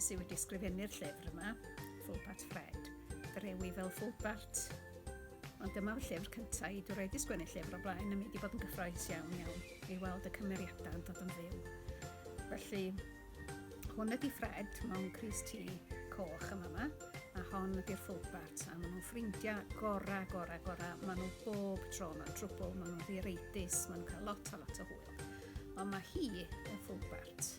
sydd wedi ysgrifennu'r llyfr yma, Fulbart Fred. Drewi fel Fulbart. Ond dyma'r llyfr cyntaf i dwi wedi sgwennu llyfr o blaen a mi wedi bod yn gyffroes iawn iawn i weld y cymeriadau yn dod yn fyw. Felly, Hwn ydi Fred mewn crys tŷ coch yn fama, a hon ydi'r Folkbart, a maen nhw'n ffrindiau gora, gora, gora. Maen nhw bob tro mewn trwbl, maen nhw'n ddireitus, maen nhw'n cael lot a lot o hwyl. Ond mae hi, y Folkbart,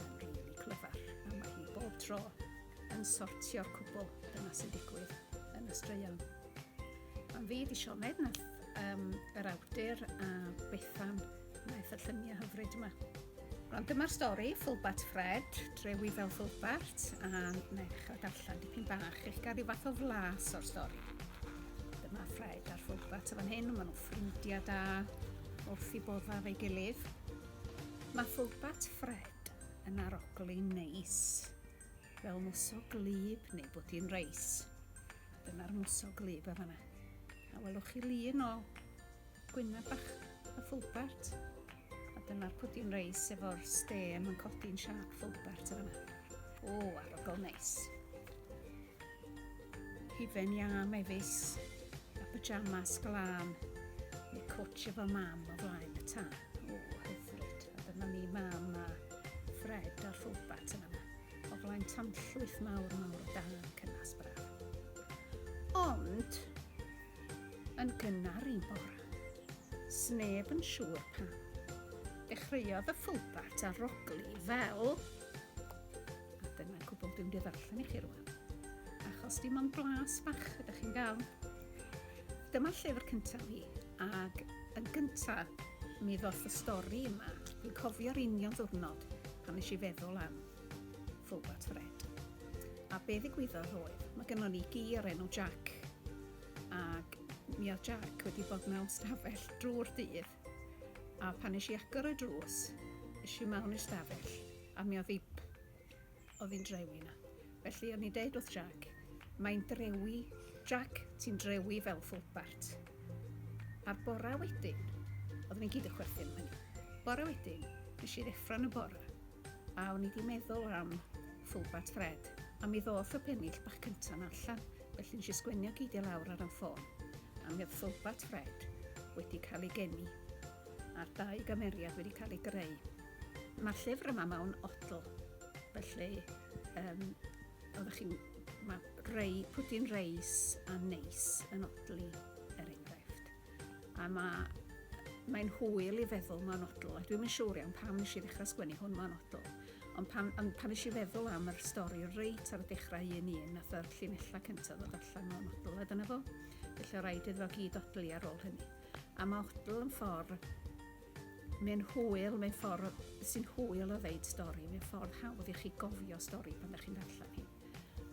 yn rili clyfar, a mae hi bob tro yn sortio'r cwbl yna sy'n digwydd yn y straeon. Mae'n fi di Sioned nath um, yr awdur a Bethan Maeth y lluniau hyfryd yma. Rwan dyma'r stori, Fulbart Ffred, drewi fel Fulbart, a mae'n ddechrau darllen dipyn bach eich gael rhyw fath o flas o'r stori. Dyma Ffred a'r Fulbart y fan hyn, maen nhw'n ffrindiau da, wrth i boddaf ei gilydd. Mae Fulbart Ffred yn arogli neis, fel mwsog glib neu bwdin reis. Dyna'r mwsog glib y fanna. A welwch chi lun o Gwyneb bach a Fulbert. A dyma'r pwdin reis efo'r stêm yn codi'n siap Fulbert yn yma. O, arogl neis. Hufen iâ mefus a pyjamas glân. Neu cwtsh efo mam o flaen y tân. O, hyfryd. A dyma ni mam a Fred ar Fulbert yn yma. O flaen tanllwyth mawr mawr o dan cynnas braf. Ond, yn gynnar un bore. Sneb yn siŵr pam. Dechreuodd y ffwlbart a rogli fel... A dyna cwbl dwi'n ddarllen i chi rwan. Achos dim ond blas bach ydych chi'n gael. Dyma llyfr cyntaf fi, ac yn gyntaf mi ddoth y stori yma. Dwi'n cofio'r union ddwrnod pan nes i feddwl am Fobat Fred. A be ddigwyddodd oedd, mae gennon ni gi o'r enw Jack. Ac mi oedd Jack wedi bod mewn stafell drwy'r dydd. A pan eisiau agor y drws, eisiau mewn i'r stafell, a mi oedd ip oedd hi'n drewi na. Felly o'n i'n deud wrth Jack, mae'n drewi, Jack, ti'n drewi fel ffwlbart. A'r bora wedyn, oeddwn i'n gyd yn chwerthin am hynny. Bora wedyn, nes i ddeffro'n y bora, A o'n i 'di meddwl am Fulbat Fred, a mi ddoth y pennill bach cynta 'na allan, felly nes i sgwennu o gyd i lawr ar 'y ffôn, a mi oedd Fulbat Fred wedi cael ei geni, a'r dau gymeriad wedi cael eu greu. Mae'r llyfr yma mewn odl, felly um, oeddech chi'n... Mae rei, pwdin reis a neis yn odli, er enghraifft. A mae, mae'n hwyl i feddwl mae'n odl, a dwi'n yn siŵr iawn pam nes i ddechrau sgwennu hwn mae'n odl. Ond pan, ond pan nes i feddwl am yr stori reit ar y dechrau un un, nath yr llinellau cyntaf ddod allan mae'n odl, a dyna fo. Felly o rhaid iddo gyd odlu ar ôl hynny. A mae odl yn ffordd mae'n hwyl, mae'n ffordd sy'n hwyl o ddeud stori, mae'n ffordd hawdd i chi gofio stori pan ydych chi'n darllen hi.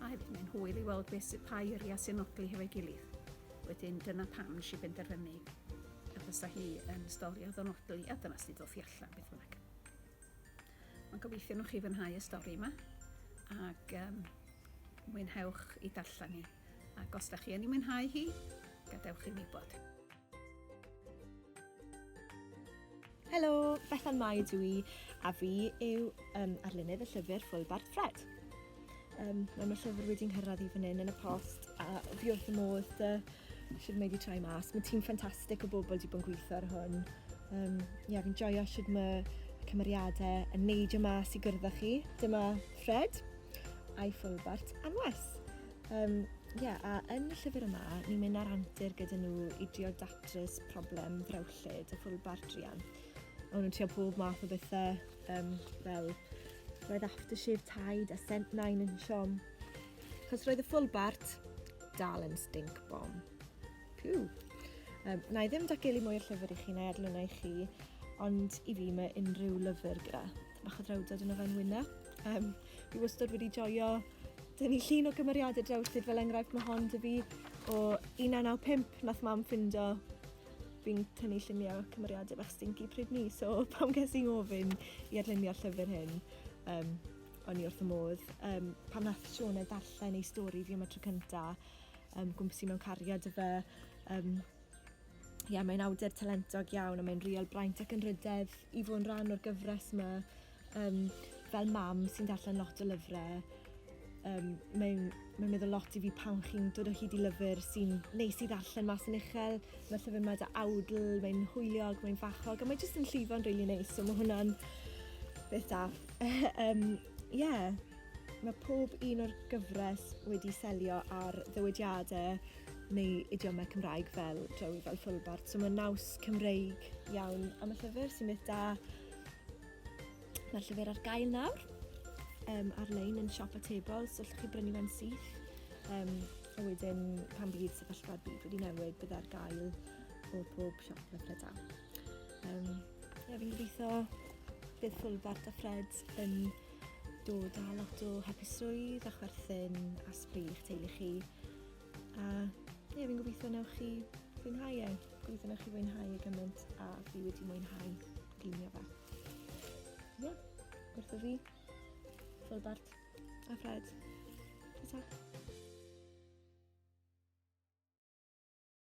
A hefyd mae'n hwyl i weld beth sydd pa eiriau sy'n nodli hefo'i gilydd. Wedyn dyna pam nes i benderfynu y fysa hi yn stori o ddonodwy a dyna sydd ddoth i allan beth bynnag. Mae'n gobeithio nhw'ch chi fynhau y stori yma ac um, mwynhewch i darllen ni. Ac os da chi yn ei mwynhau hi, gadewch i mi bod. Helo, Bethan Mai dw i, a fi yw um, arlunydd y llyfr Full Bark Fred. Um, mae mae llyfr wedi nghyrraedd i fan hyn yn y post, a fi wrth y modd uh, sydd wedi troi mas. Mae tîm ffantastig o bobl wedi bod yn gweithio ar hwn. Um, yeah, fi'n joio sydd mae cymeriadau yn neud y mas i gyrdda chi. Dyma Fred a'i ffwlbart anwes. Um, yeah, a yn y llyfr yma, ni'n mynd ar antur gyda nhw i drio datrys problem ddrewllyd lled a ffwrdd bar druan. O'n nhw'n trio pob math o bethau, um, fel roedd aftershave Tide a scent nine yn siom. Chos roedd y full bart dal yn stink bomb. Piw! Um, na i ddim dagelu mwy o llyfr i chi neu adlwna i chi, ond i fi mae unrhyw lyfr gyda bach o drawdod yn ofen wyna. Um, fi wastad wedi joio Dyn ni llun o gymeriadau drawsyd fel enghraifft mae hon dy fi o 1995 nath mam ffindo fi'n tynnu lluniau cymeriadau bach stinky pryd ni, so pam ges i'n ofyn i adlunio'r llyfr hyn, um, o'n i wrth y modd. Um, pan nath Siôn e darllen ei stori fi am y tro cynta, um, gwmsi mewn cariad y fe, um, Ie, yeah, mae'n awdur talentog iawn a mae'n real braint ac yn rydedd i fod yn rhan o'r gyfres yma. Um, fel mam sy'n darllen lot o lyfrau, um, mae'n mae meddwl lot i fi pan chi'n dod o hyd i lyfr sy'n neis i ddarllen mas yn uchel. Mae llyfr yma da awdl, mae'n hwyliog, mae'n fachog, a mae jyst yn llifo'n rili really neis, so mae hwnna'n beth da. um, yeah. Mae pob un o'r gyfres wedi selio ar ddywediadau neu idiomau Cymraeg fel drawi fel ffwlbart. So mae naws Cymreig iawn am y llyfr sy'n beth da. Mae'r llyfr ar gael nawr um, ar-lein yn siop atebol, so allwch chi brynu fe'n syth. Um, a wedyn, pan bydd sefyllfa'r byd wedi newid, bydd ar gael o bob siop le ple da. Um, ie, fi'n gobeithio bydd Fulfart a Fred yn dod â lot o hapusrwydd a chwerthin a sbri i'ch teulu chi. A ie, fi'n gobeithio newch chi fwynhau e. Gobeithio newch chi fwynhau e gymaint a fi wedi mwynhau glinio fe. Ie, wrtho fi, Fulbart a Fred. Ta-ta.